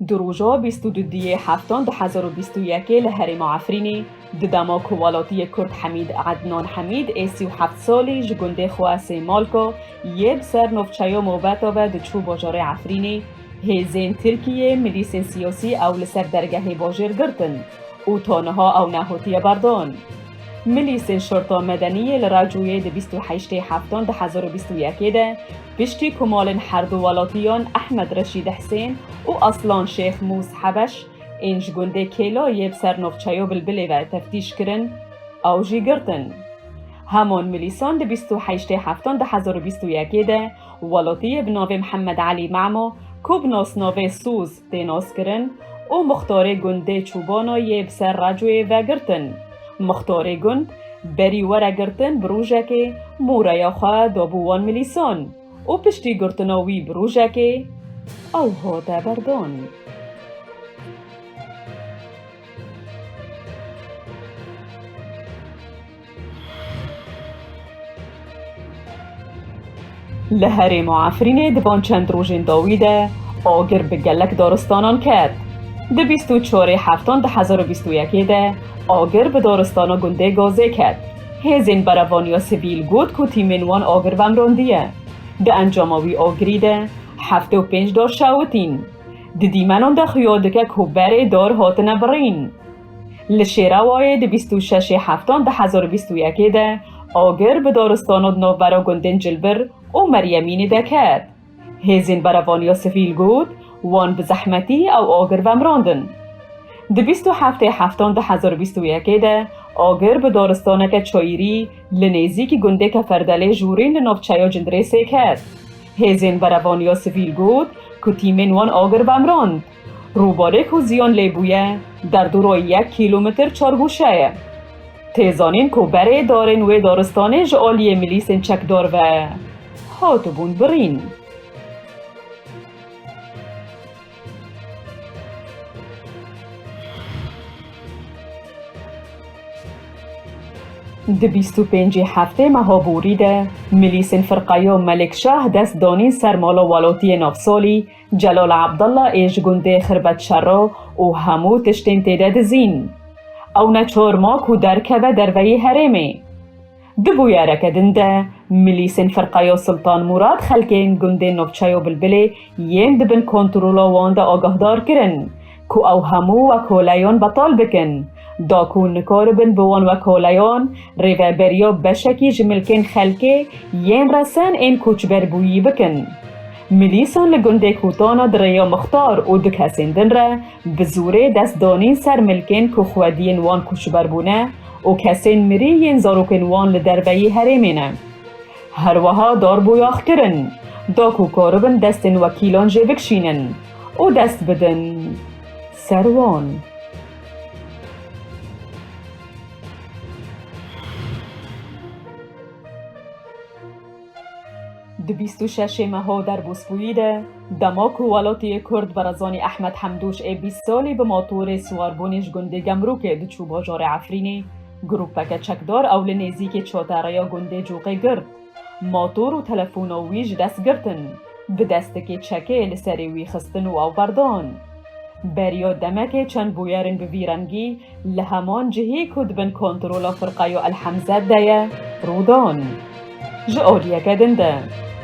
Di roja bîst û du diyê heftan du hezar û bîst û yekê li herêma Efrînê di dema ku welatiyê Kurd Hemîd Ednan Hemîd ê sî û heft salî ji gundê xwe Sêmalka yê bi ser navçeya Moveta ve diçû bajarê Efrînê Hêzên Tirkiyê milîsên siyasî ew li ser dergehê bajêr girtin û ta niha ew nehotiye berdan. Milîsên Şorta Medeniyê li Racûyê di bîst û heştê Heftan du hezar û bîst û yekê de piştî ku malên herdu welatiyan Ehmed Reşîd Hisên û Aslan Şêx Mûs Hebeş ên ji gundê Kêla yê bi ser navçeya Bilbilê ve teftîş kirin ew jî girtin. Heman milîsan di bîst û heştê Heftan du hezar û bîst û yekê de Welotiyê bi navê Mihemed Elî Memo ku bi nasnavê Sûz tê naskirin û muxtarê gundê Çûbano yê bi ser racoyê ve girtin. Muxtarê gund berî were girtin bi rojekê moreya xwe dabû wan milîsan û piştî girtina wî bi rojekê ew hate berdan. Li herêma Efrînê di van çend rojên dawî de agir bi gelek daristanan ket. Di bîst û çarê heftan di hezar û bîst û yekê de agir bi daristana gundê Gazê ket. Hêzên berevaniya sivîl got ku tîmên wan agir vemrandiye. Di encama wî agirî de heftê û pênc dar şewitîn. Di dîmenan de xuya dike ku berê dar hatine birîn. Li Şêrawayê di bîst û şeşê heftan du hezar û bîst û yekê de agir bi daristana di navbera gundên Cilbir û Meryemînê de ket. Hêzên berevaniya sivîl got wan bi zehmetî ew agir vemirandin. Di bîst û heftê heftan du hezar û bîst û yekê de agir bi daristaneke çayîrî li nêzîkî gundê Keferdelê Jûrîn li navçeya Cindirêsê ket. Hêzên berevaniya sivîl got ku tîmên wan agir vemirand. Rûbarê ku ziyan lê bûye derdora yek kîlometr çargûşe ye. Tê zanîn ku berê darên wê daristanê ji aliyê milîsên çekdar ve hatibûn birîn. Di bîst û pêncî heftê meha borî de milîsên firqeya Melikşah dest danîn ser mala welatiyê navsalî, Celal Abdullah ê ji gundê Xirbet Şerro û hemû tiştên tê de dizîn. Ew ne çor ma ku derkeve derveyî herêmê. Di bûyereke din de milîsên Firqeya Sultan Mûrad xelkên gundên navçeya Bilbilê yên di bin kontrola wan de agahdar kirin. Ku ew hemû wekoleyon betal bikin. Da ku nikaribin bi wan wekoleyon rêveberiya beşekî ji milkên xelkê yên resen ên koçberbûyî bikin. Milîsan li gundê Kûtana di rêya mixtar û du kesên din re bi zorê dest danîn ser milkên ku xwediyên wan koçber bûne û kesên mirî yên zarokên wan li derveyî herêmê ne. Herweha darboyax kirin. Da ku karibin destên wekîlan jê bikşînin. û dest bidin ser wan. Di bîst û şeşê meho der bû spûyî de dema ku welatiyê Kurd Barazanî Ehmed Hemdûş ê bîst salî bi matorê siwarbûnê ji gundê Gemrûkê diçû bajarê Efrînê, grûpeke çekdar ew li nêzîkê çatereya gundê Coqê girt. Motor û telefona wî ji dest girtin, bi destikê çekê li serê wî xistin û avberdan. Beriya demekê çend bûyerên bi vî rengî li heman cihê ku di bin kontrola firqeya El Hemze de ye rûdan. Ji aliyeke din de,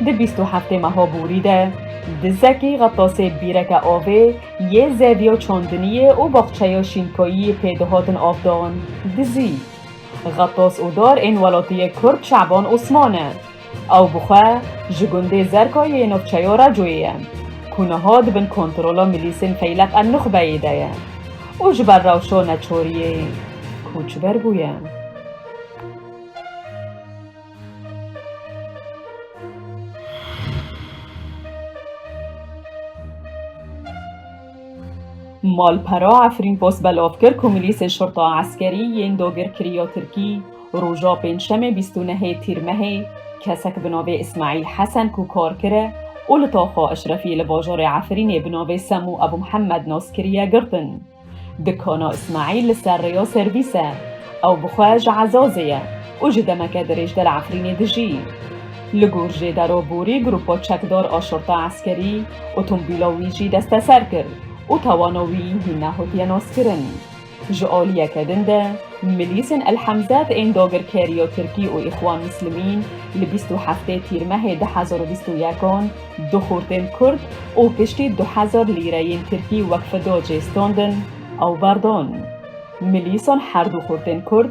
di bîst û heftê meha borî de, dizekî xetasê bîreke avê yê zevya çandiniyê û baxçeya şînkayiyê pê dihatin avdan, dizî. Xetas û dar ên welatiyê Kurd Şaban Osman e. Ew bi xwe ji gundê Zerkayê yê navçeya Racoyê ye ku niha di bin kontrola milîsên Feylek El Nuxbeyê de ye û ji ber rewşa neçariyê koçber bûye. Malpera Efrînpos belov kir ku milîsên şurta eskerî yên dagirkirî ya Tirkî roja Pêncşemê bîst û nehê Tîrmehê kesek bi navê Îsmaîl Hesen ku kar kire û li Taxa Eşrefî li bajarê Efrînê bi navê Semû Ebû Mihemed nas kiriye girtin. Dikana Îsmaîl li ser rêya servîs e. Ew bi xwe ji Ezazê ye û ji demeke dirêjde li Efrînê dijî. Li gor Jêdero borî grupa çekdar a şerta eskerî otomobîla wî jî desteser kir û tawana wî hîn nehatiye naskirin. Ji aliyeke din de milîsên El Hemzet ên dagirkeriya Tirkî û Îxwan Mislimîn li bîst û heftê Tîrmehê du hezar û bîst û yek an du xortên Kurd û piştî du hezar lîreyên Tirkî wek fida cê standin ew berdan. Milîsan her du xortên Kurd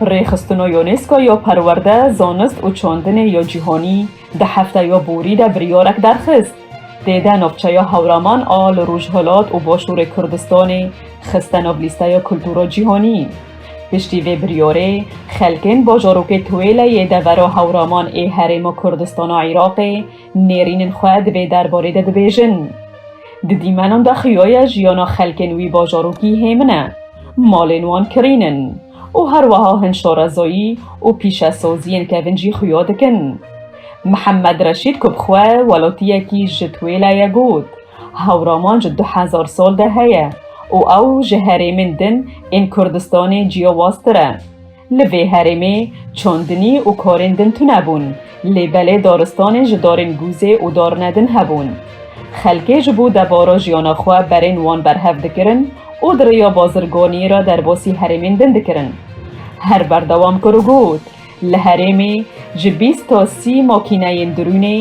Rêxistin û UNESCO yo Perwerde, Zanist û Çandinê yo Cîhanî di hefta yo borî de biryarek derxist. Tê de navçeya Hewraman a li Rojhilat û Başûrê Kurdistanê xiste nav lîsteya kultura cîhanî. Piştî vê biryarê, xelkên bajarokê Tuwêle yê devera Hewraman ê Herêma Kurdistana Îraqê nêrînên xwe di vê derbarê de dibêjin. Di dîmenan de xuyaye jiyana xelkên wî bajarokî hêmin e, malên wan kirîn in û herweha hin şarezayî û pîşesaziyên kevin jî xuya dikin. Mihemed Reşîd ku bi xwe welatiyekî ji Tuwêle ye got, Hewraman ji du hezar sal de heye û ew ji herêmên din ên Kurdistanê ciyawaztir e. Li vê herêmê çandinî û karên din tune bûn, lê belê daristanên ji darên gûzê û darine din hebûn. Xelkê ji bo debara jiyana xwe berên wan berhev dikirin û di rêya bazirganiyê re derbasî herêmên din dikirin. Her berdewam kir û got, Li herêmê ji bîst to sî makîneyên dirûnê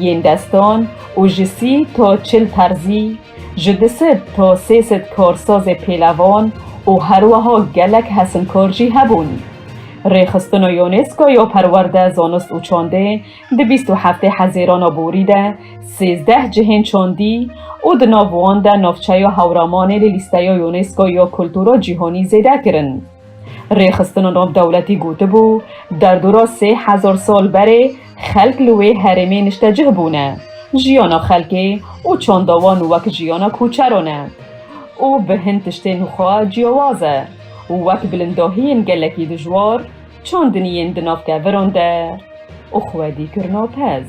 yên destan û ji sî to çil terzî, ji du sed to sê sed karsazê pêlevan û herweha gelek hesinkar jî hebûn. Rêxistina Yoneska ya Perwerde, Zanist û Çandê di bîst û heftê hezêrana borî de sêzdeh cihên çandî û di nav wan de navçeya Hewramanê li lîsteya Yoneska ya Kultura Cîhanî zêde kirin. Rêxistina nav dewletî gotibû, derdora sê hezar sal berê xelk li wê herêmê niştecih bûne, jiyana xelkê û çanda wan wek jiyana koçeran e û bi hin tiştên xwe ciyawaz e, wek bilindahiyên gelekî dijwar, çandiniyên di nav keviran de û xwedîkirina pez.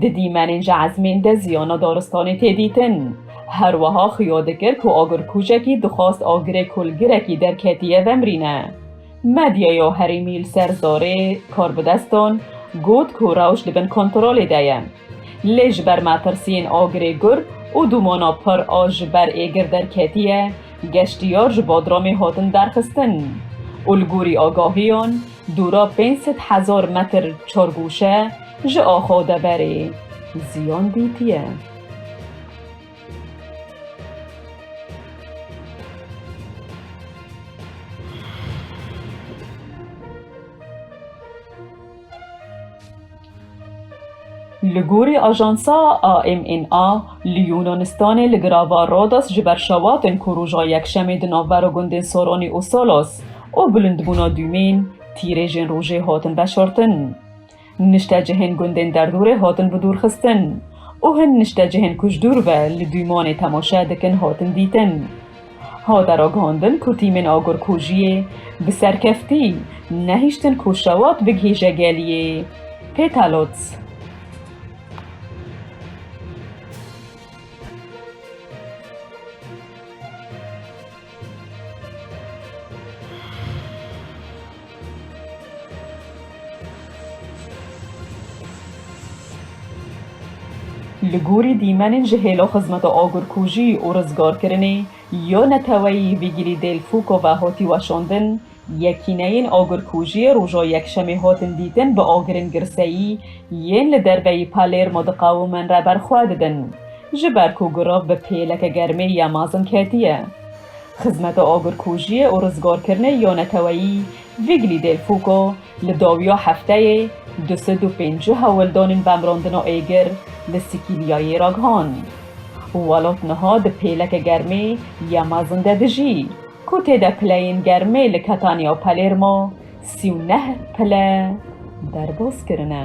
Di dîmenên ji ezmên de ziyana daristanê tê dîtin. Her weha xuya dikir ku agirkujekî dixwast agirê kulgirekî derketiye vemrîne. Medyaya herêmî li ser zarê Karbidestan got ku rewş di bin kontrolê de ye. Lê ji ber metirsiyên agirê gur û dûmana pir a ji ber êgir derketiye, geştiyar ji Bodromê hatin derxistin û li gorî agahiyan, Dûra pênc sed hezar metr çargûşe ji axa deverê ziyan dîtiye. Li gorî ajansa AMNA, li Yûnanistanê li girava Rodos ji ber şewatin ku roja Yekşemê di navbera gundên Soronî û Solos û bilindbûna dûmên tîrêjên rojê hatin veşartin. Niştecihên gundên derdorê hatin bidûrxistin û hin niştecihên ku ji dûr ve li dûmanê temaşe dikin hatin dîtin. Hate ragihandin ku tîmên agirkujiyê bi serkeftî nehiştin ku şewat bigihîje geliyê Pêtalot. Li gorî dîmenên ji hêla xizmeta agirkujî û rizgarkirinê ya neteweyî Vîgîlî Dêl Fûko ve hatî weşandin, yekîneyên agirkujiyê roja Yekşemê hatin dîtin bi agirên girseyî yên li derveyî Palermo diqewimin re berxwe didin, ji ber ku girav bi pêleke germê ya mezin ketiye. Xizmeta Agirkujiyê û Rizgarkirinê ya Neteweyî Vigli Del Fuco li dawiya hefteyê du sed û pêncî hewldanên vemrandina êgir li Sîkîlyayê ragihan. Welat niha di pêleke germê ya mezin de dijî, ku tê de pileyên germê li Catania û Palermo sî û neh pile derbas kirine.